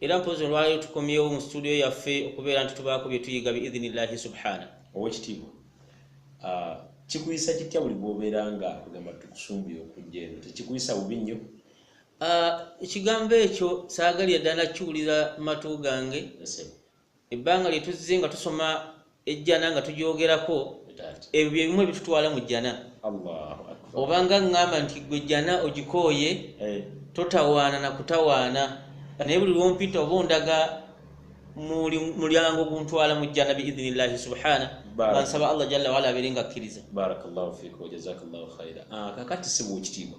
era mpozi olwaleero tukomyewo mu situdiyo yaffe okubeera nti tubaako bye tuyiga biidhinillahi subhana owekitiibwa ah, kikuyisa kitya buli bwobeera nga kugamba tukusumbuye okujja eno tekikuyisa bubi nnyo ah, ekigambo ekyo saagaliya ddala kiwulira matu gange ebbanga lye tuzze nga tusoma ejjana nga tugyogerako ebyo bye bimu ebitutwala mu jjana obanga ŋŋamba nti gwe jjana ogikooye eh. totawaana na kutawaana naye buli lwompita oba ondaga mulyango guntwala mu jjana biidhini llahi subhana bansaba allah jalla waala abeere nga akkiriza ah, kakati sibuukitiibwa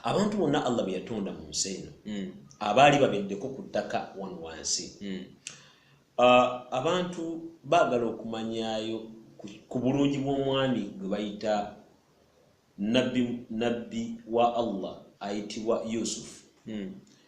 abantu bonna allah be yatonda mu nsi eno mm. abaali babeddeko ku ttaka wano wansi mm. uh, abantu baagala okumanyayo ku bulungi bw'omwami gwe bayita nabbi wa allah ayitibwa yusufu mm.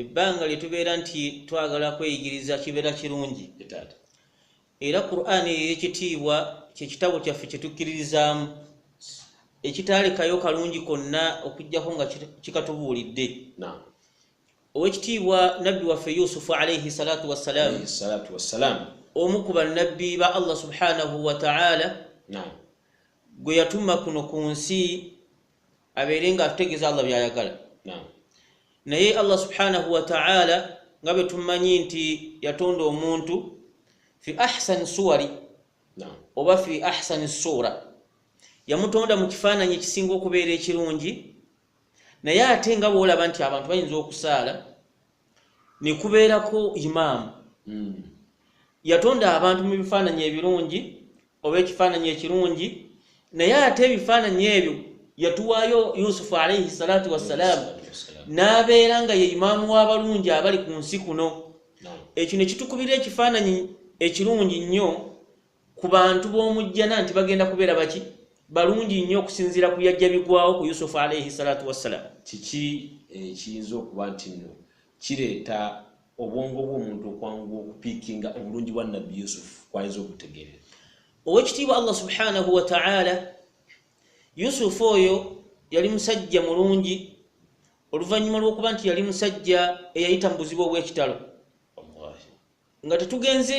ebbanga lye tubeera nti twagala kweyigiriza kibeera kirungi era qur'ani eyo ekitiibwa kyekitabo kyaffe kye tukkiririzaamu ekitaalekayo kalungi konna okujjako nga kikatubuulidde owekitiibwa nabbi waffe yusufu alaihi salatu wassalaamu omu ku bannabbi ba allah subhanahu wataala gwe yatuma kuno ku nsi abeere nga atutegeeza allah byayagala naye allah subhanahu wataala nga bwe tumanyi nti yatonda omuntu fi ahsani suwari oba fi ahsani suura yamutonda mu kifaananyi ekisinga okubeera ekirungi naye ate nga bwolaba nti abantu bayinza okusaala ne kubeerako imaamu mm. yatonda abantu mu bifaananyi ebirungi oba ekifaananyi ekirungi naye ate ebifaananyi ebyo yatuwaayo yusufu alaihi salatu wassalaamu n'abeera nga ye imaamu w'abalungi abali ku nsi kuno ekyo ne kitukubira ekifaananyi ekirungi nnyo ku bantu b'omu jjana nti bagenda kubeera baki balungi nnyo okusinziira ku byajja bigwawo ku yusufu alaihi salatu wassalam kiki ekiyinza eh, okuba nti nno kireeta obwongo bw'omuntu okwanguwa okupiikinga obulungi bwa nabbi yusufu kwayinza okutegeerera owekitiibwa allah subhanahu wataala yusufu oyo yali musajja mulungi oluvannyuma lw'okuba nti yali musajja eyayita mu buzibu obw'ekitalo nga tetugenze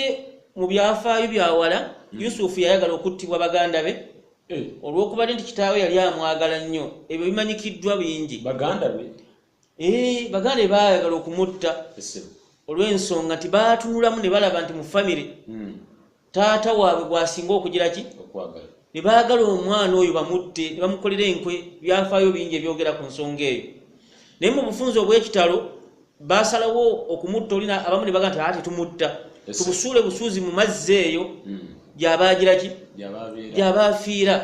mu byafaayo byawala hmm. yusufu yayagala okuttibwa baganda be eh. olwokubadde nti kitaawe yali amwagala nnyo ebyo bimanyikiddwa bingi baganda be eh, baganda be baayagala okumutta olw'ensonga nti baatunulamu ne balaba nti mu famire hmm. taata waabwe gwasinga okugira ki ne baagala omwana oyo bamutte ne bamukolera enkwe byafaayo bingi ebyogera ku nsonga eyo naye mu bufunzi obw'ekitalo basalawo okumutta oli abamu ne baga nti aa tetumutta tubusuule busuuzi mu mazzi eyo hmm. gyabaagira ki gyabaafiira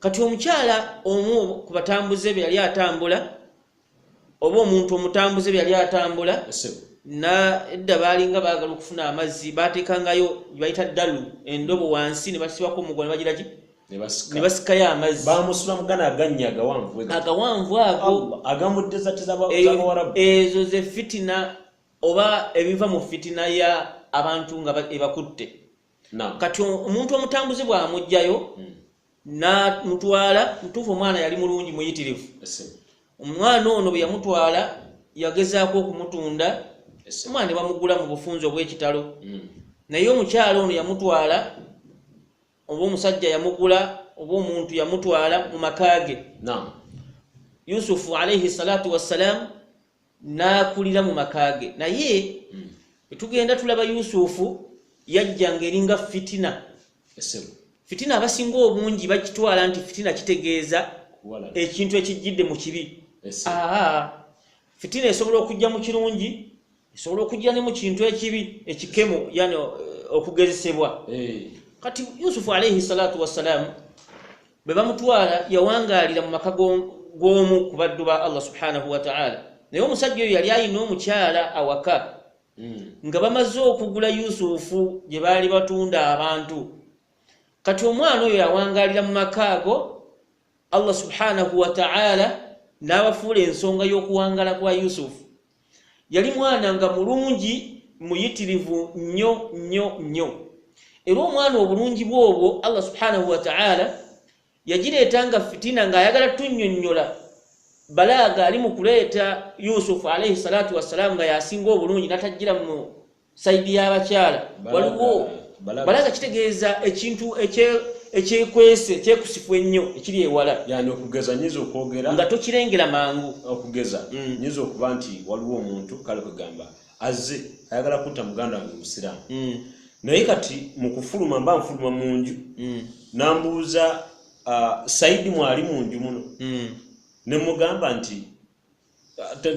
kati omukyala omu ku batambuze be yali atambula oba omuntu omutambuze byali atambula nadda baalinga baagala okufuna amazzi baateekangayo bayita ddalu endobo wansi ne basibako omugo ne bagiraki ne basikayo amazzi bamusula mugana agannya agawanvu agawanvu ago agamuddezatizaawarabu e, ezo ze fitina oba ebiva mu fitina ya abantu nga ebakutte kati omuntu omutambuzi bwamugjayo hmm. namutwala mutuufu omwana yali mulungi muyitirivu omwana ono bweyamutwala yagezaako okumutunda omwana ne bamugula mu bufunzi obwekitalo hmm. naye omukyalo ono yamutwala oba omusajja yamugula oba omuntu yamutwala mu maka ge yusufu alaihi salatu wassalaamu n'akulira mu maka ge naye hmm. tugenda tulaba yusufu yajja ng'eringa fitina fitina abasinga obungi bakitwala nti fitina kitegeeza ekintu ekijjidde mu kibi fitina esobola okujja mu kirungi esobola okujja ne mu kintu ekibi ekikemu yani eh, okugezesebwa eh. kati yusufu alaihi salatu wassalaamu bwe bamutwala yawangaalira mu maka g'omu ku baddu ba allah subhanahu wataala naye omusajja oyo yali alina omukyala awaka hmm. nga bamaze okugula yusufu gye baali batunda abantu kati omwana oyo yawangaalira mu maka ago allah subhanahu wataala n'abafuula ensonga y'okuwangala kwa yusufu yali mwana nga mulungi muyitirivu nnyo nnyo nnyo era omwana obulungi bwobwo allah subhanahu wataala yagireeta nga fitina ng'ayagala tunnyonnyola balaaga ali mu kuleeta yusufu alaihi salatu wassalamu nga yasinga obulungi natajjira mu saidi y'abakyala waliwo balaga kitegeeza ekintu ekyekwese ekyekusifu ennyo ekiri ewala yani okugeza nyinza okwogera nga tokirengera mangu okugeza mm. nyinza okuba nti waliwo omuntu kale kwegamba azze ayagala kutta muganda wange musiraamu mm. naye kati mu kufuluma mba nfuluma mu nju mm. nambuuza uh, saidi mwali mu nju muno ne mugamba nti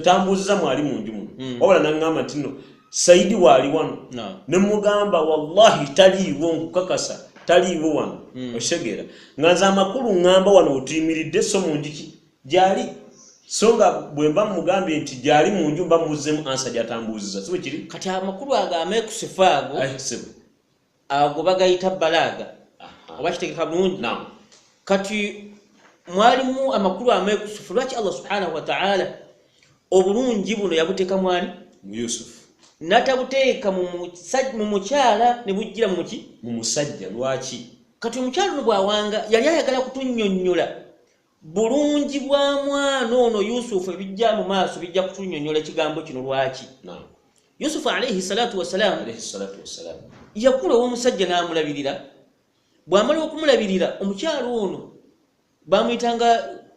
tambuuziza mwali mu nju muno hmm. wabula naŋŋamba nti no sayidi waali wano ne mugamba wallahi taliiwo nkukakasa taliiwo wano hmm. okitegeera nga nze amakulu ŋŋamba wano wetuyimiridde so mu njuki gyali so nga bwe mba mugambye nti gyali mu nju mba muzzemu ansa gyatambuuziza si bwe kiri kati amakulu ago ameekusifa ago ago bagayita balaaga oba kitegeka bulungi kati mwalimu amakulu amekusufu lwaki allah subhanahu wataala obulungi buno yabuteeka mwani muyusufu natabuteeka mu mukyala ne bujjira muki mu musajja lwaki kati omukyala no bwawanga yali ayagala kutunyonyola bulungi bwa mwana ono yusufu ebijja mu maaso bijja kutunyonyola ekigambo kino lwaki yusufu alaihi salatu wasalaamu yakula ow'omusajja n'amulabirira bw'amala okumulabirira omukyalo ono bamuyitanga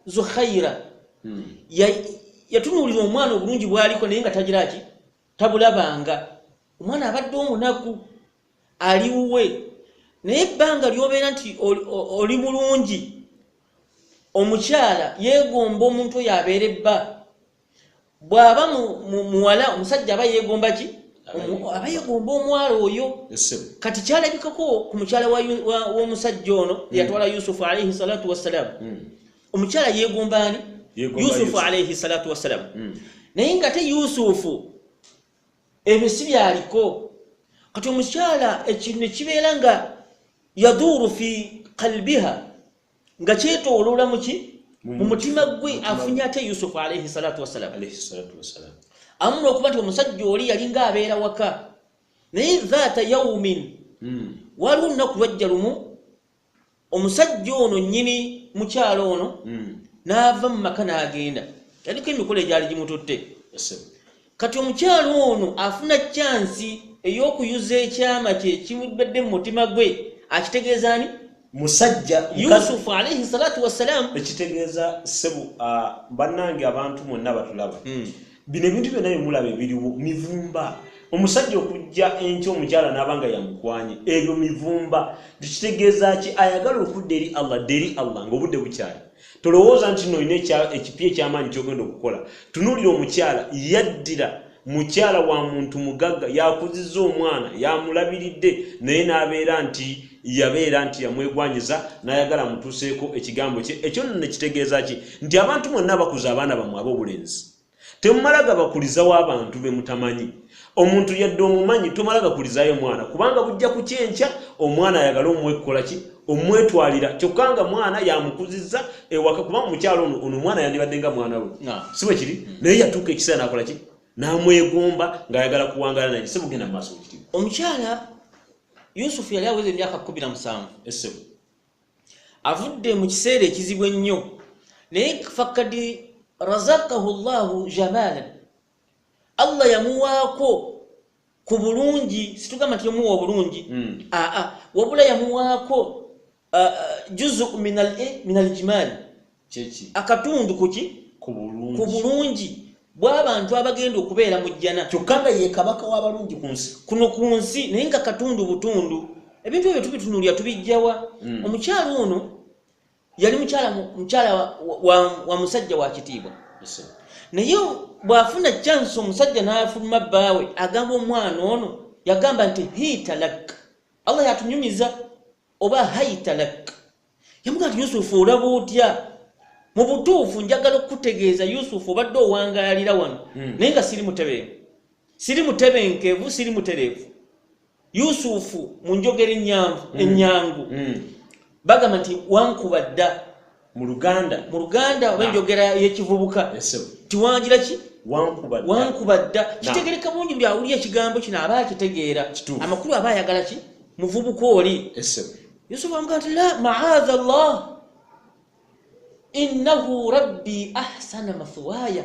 zuhaira hmm. yatunuulira omwana obulungi bwaliko naye nga tagira ki tabulabanga omwana abadde omunaku ali wuwe naye ebbanga lyobeera nti oli bulungi omukyala yegomba omuntu oyo abeere bba bw'aba muwala omusajja aba yegomba ki aba yegomba omwala oyo kati kyalabikako ku mukyala w'omusajja ono hmm. yatwala yusufu alaihi salatu wassalamu hmm. omukyala yegomba ani yusufu alaihi salatu wassalamu hmm. naye nga te yusufu ebyo si byaliko kati omukyala ekintu ne kibeera nga yaduuru fi kalbiha nga kyetooloola muki mu mutima gwe afunye ate yusufu alaihi salatu wassalamu alayhi salatu wassalamu amuna okuba nti omusajja oli yalinga abeera waka naye dhaata yaumin Mm. waliwo lunaku lwajja lumu omusajja ono nyini mukyalo ono mm. n'ava mu maka n'agenda yaliko emikolo egyali gimututte kati omukyalo ono afuna kyansi ey'okuyuza ekyama kye kibadde mu mutima gwe akitegeeza ani musajja yusufu alaihi salatu wassalaamu ekitegeeza sebu ah, bannange abantu mwonna batulaba hmm. bino ebintu byonna byemulaba ebiriwo mivumba omusajja okujja enkya omukyala naaba nga yamukwanye ebyo mivumba tekitegeeza ki ayagala okudda eri allah dda eri allah ngaobudde bukyali tolowooza nti no olina ekipya ekyamaanyi kyogenda okukola tunuulira omukyala yaddira mukyala wa muntu mugagga yakuziza omwana yamulabiridde naye n'abeera nti yabeera nti yamwegwanyiza n'ayagala amutuuseeko ekigambo kye ekyo nno ne kitegeeza ki nti abantu mwonna abakuza abaana bamwe ab'obulenzi temumala gabakulizawo abantu be mutamanyi omuntu yadde omumanyi tomala gakulizayo omwana kubanga bujja ku kyenkya omwana ayagale omwekkola ki omwetwalira kyokka nga mwana yamukuzizza ewaka kuba mukyalo ono ono omwana yandibadde nga mwana we si bwe kiri mm. naye yatuuka ekiseera nakola ki n'amwegomba ng'ayagala kuwangala naye si bugenda mu maaso bukiri omukyala yusufu yali aweza emyaka kumi na musanvu essebo avudde mu kiseera ekizibu ennyo naye fakad razakahu llahu jamalan allah yamuwaako ku bulungi situgamba nti yamuwa obulungi Mm. aa wabula yamuwaako Uh, uh, juzu minal e minal jimali kyeki akatundu kuki ku bulungi ku bulungi bw'abantu abagenda okubeera mu jjana kyokka nga ye kabaka w'abalungi ku nsi kuno ku nsi naye nga katundu butundu ebintu ebyo tubitunulira tubijjawa mm. omukyala ono yali mukyala mukyala wa, wa, wa, wa musajja wa kitiibwa yes, naye bw'afuna chansi omusajja n'afuluma bbaawe agamba omwana ono yagamba nti hitalak allah yatunyumiza oba haitalak yamugamba nti yusufu olaba otya mu butuufu njagala okukutegeeza yusufu obadde owangaalira wano hmm. naye nga siri mutebenke siri mutebenkevu siri mutereevu yusufu mu njogera enyangu hmm. enyangu hmm. bagamba nti wankuba dda mu luganda mu luganda oba enjogera y'ekivubuka tiwangira ki wankuba dda kitegereka bungi buli awulira ekigambo kino aba akitegeera amakulu aba ayagala ki muvubuka oli yusufu amugaa ti la maadha llah innahu rabbi ahsana mathuwaya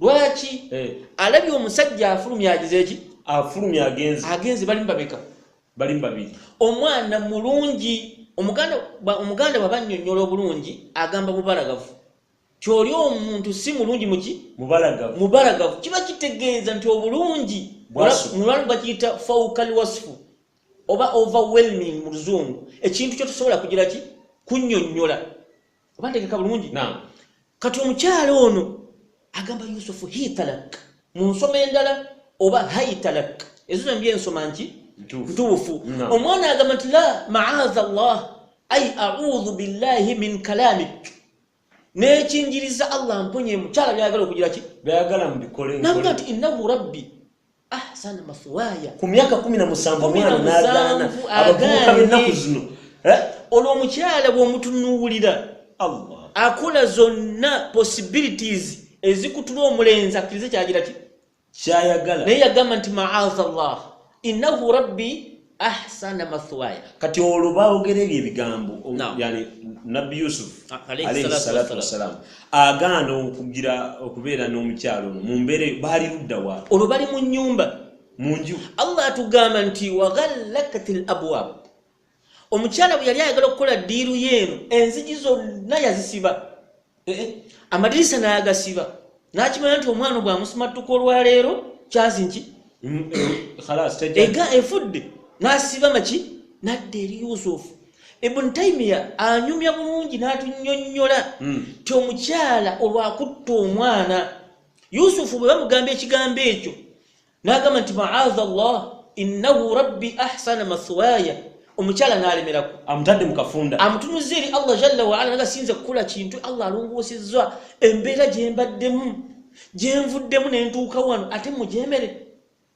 lwaki eh. alabye omusajja afulumya agize eki afulumya agenzi agenzi balimu babeka balimu babiri omwana mulungi omuganda omuganda bwaba nnyonnyola obulungi agamba bubalagavu kyoli omuntu si mulungi muki mubalagavu mubalagavu kiba kitegeeza nti obulungi mulwanu bakiyita faukal wasifu oba overwhelming mu luzungu ekintu kyotosobola kugira ki kunnyonnyola oba ntegeka bulungi Naam. kati omukyala ono agamba yusufu hitalak mu nsoma endala oba haitalak ezo zombi ensoma nki Ntuufu. ntuufu Naam. omwana agamba nti la maaza llah ai audhu billahi min kalamik nekinjiriza allah mponye mukyala byagala okugira ki byayagala mubikole nagamba nkole. nti innahu rabbi ahsana ah, mathwaya ku myaka kumi na musanvu omwana n'agaana abavubuka b'ennaku zino eh? olwo omukyala bw'omutunuulira allah akola zonna possibilities ezikutula omulenzi akkirize kyagira ki kyayagala naye yagamba nti maaza llah innahu rabbi ahsana mathwaya kati olwo baogera ebyo ebigambo o- Naam. yani nabbi yusufu A- alayhi alayhi salatu salatu wassalaam. wassalaam agaana okugira okubeera n'omukyalo ono mu mbeera eyo baali ludda wa olwo bali mu nyumba mu nju allah atugamba nti waghallakat l abwab omukyala bwe yali ayagala okukola ddiiru yeeno enzigi zonna yazisiba eh, eh, amadirisa nagasiba nakimanya nti omwana bwamusimattuka olwaleero kyazi nki mm, eh, ega efudde nasiba maki nadda eri yusufu ibn taimiya anyumya bulungi natunyonyola hmm. ti omukyala olwakutta omwana yusufu bwe bamugamba ekigambo ekyo n'agamba nti maaza allah innahu rabbi ahsana mathwaya omukyala n'alemerako amutadde mu kafunda amutunuza eri allah jalla waala naga siyinza okukola kintu allah alongoosezza embeera gye mbaddemu gye nvuddemu ne ntuuka wano ate mugyemere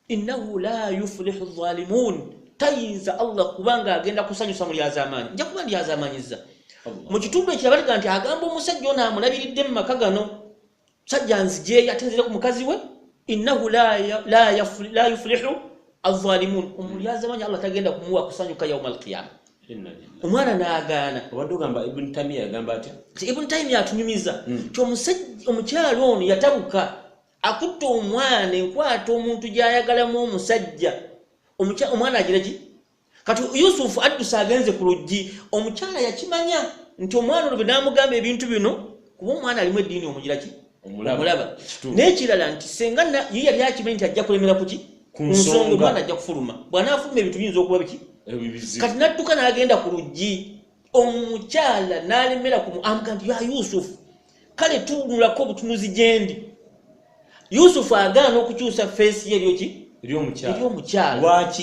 innahu la yufulihu zalimun tayinza allah kubanga agenda kusanyusa mu lyazamaanyi nja kuba ndyazamaanyiza mu kitundu ekirabalaga nti agamba omusajja ono amulabiridde mu maka gano musajja nzijeeyo ate nzire ku mukazi we innahu la yuflihu azalimun omulyazamanya allah tagenda kumuwa kusanyuka yauma alqiyama omwana nagaana obadde ogamba ibn tamiya yagamba atya ibn tamiya atunyumiza hmm. ti omukyalo ono yatabuka akutte omwana enkwata omuntu gyayagalamu omusajja omwana agira ki kati yusufu adduse agenze ku luggi omukyala yakimanya nti omwana olwo benamugamba ebintu bino kuba omwana alimu eddiini omugira ki omulaba n'ekirala nti senga ye yali akimanyi nti ajja kulemera kuki ku nsonga omwana ajja kufuluma bw'anaafuluma ebintu biyinza okuba biki kati n'adduka n'agenda ku luggi omukyala n'alemera ku amuga nti ya yusufu kale tunulako obutunuzi gyendi yusufu agaana okukyusa feesi ye eryoki eryomukyalawaki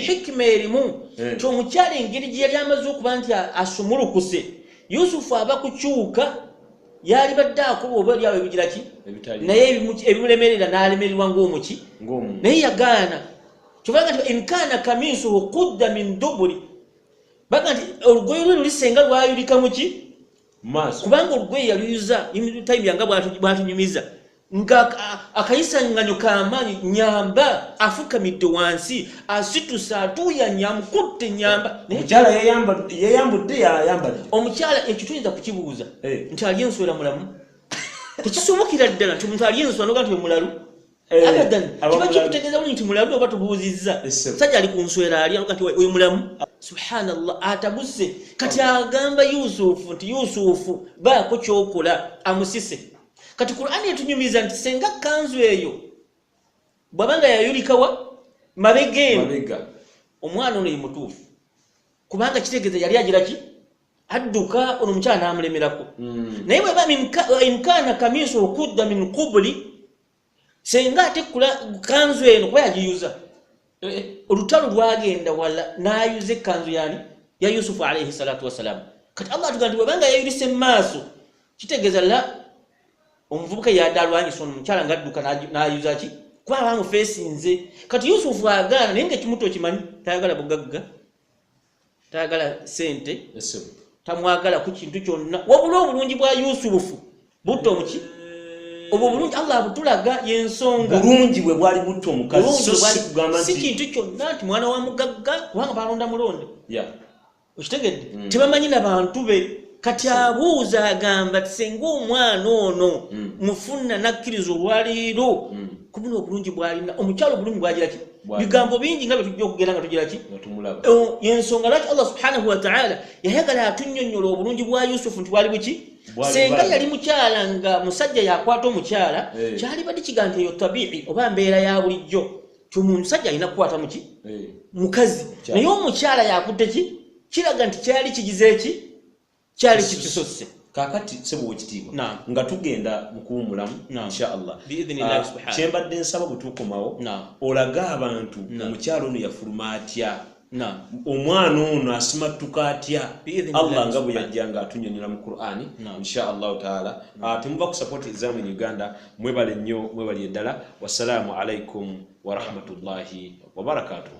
hikima erimu eh. ti omukyala engeri gye yali amaze okuba nti asumulukuse yusufu aba kukyuka yali badde akuba oba eryawo ebigira ki naye ebimulemerera n'alemererwa ngaomuki naye yagaana kyobanga ti inkaana kamisuhu kudda min duburi baga nti olugoye lwe lulisenga lwayulika muki maaso kubanga olugoye yaluyuza imtayimiya nga bwatunyumiza nga akayisanganyo kamaanyi nyamba afukamidde wansi asituse atuuyanya amukutte nyamba omukyala yeyambudde yayambalire omukyala ekyo tuyinza kukibuuza eh. nti ali enswera mulamu tekisobokera ddala nti omuntu ali enswera noga nti omulalu Eh, abadan kiba kikutegeeza buli nti mulamu oba tubuuzizza musajja ali ku nswera ali kati oyo mulamu subhanallah atabuse kati agamba yusufu nti yusufu baako kyokola amusise kati qurani etunyumiza nti senga kanzu eyo bwabanga yayulikawa mabega eno omwana ono yemutuufu kubanga kitegeeza yali agira ki adduka ono omukyala naamulemerako hmm. naye bweba imkaana kamiso okudda min qubuli senga ate kanzu eno kuba yagiyuza eh, eh, olutalo lwagenda wala nayuza ekanzu yani ya yusufu alaihi salatu wassalamu kati allah atugamba nti webanga yayulisa emaaso kitegeeza la omuvubuka yadde alwanyisa ono mukyala nga adduka nayuza ki kuba abamufeesinze kati yusufu agaana naye nga ekimuto okimanyi tayagala bugagga tayagala sente tamwagala ku kintu kyonna wabula obulungi bwa yusufu butta omuki obwo bulungi allah abutulaga yensonga bulungi bwe bwali butta omukazisi kintu kyonna nti mwana wa mugagga kubanga balonda mulonde okitegedde mm. tebamanyi na bantu be kati abuuza agamba ti senga omwana ono mm. mufuna nakkiriza olwaleero mm. kubuna obulungi bwalina omukyalo obulungi bwagiraki bigambo bingi nga byetujja okugera nga tugira ki yensonga lwaki allah subhanahu wataala yayagala atunyonyola obulungi bwa yusufu nti bwali buki senga yali mukyala nga musajja yakwata omukyala eh. kyali badi kigaa nti eyo tabii oba mbeera ya bulijjo ti omusajja alina kukwata muki eh. mukazi naye omukyala yakutte ki kiraga nti kyali kigize ki kyali kitususse kakati sebo wekitiibwa nga tugenda mukuwumulamu inshaallah ah, kyembadde nsaba bwetukomawo olage abantu omukyalo ono yafuluma atya omwana ono asimattuka atya allah nga bwe yajja nga atunyonyola mu qurani inshaallahu taala ah, temuva ku sapoti ezamu in uganda mwebale nnyo mwebali eddala wassalaamu alaikum warahmatullahi wabarakatuhu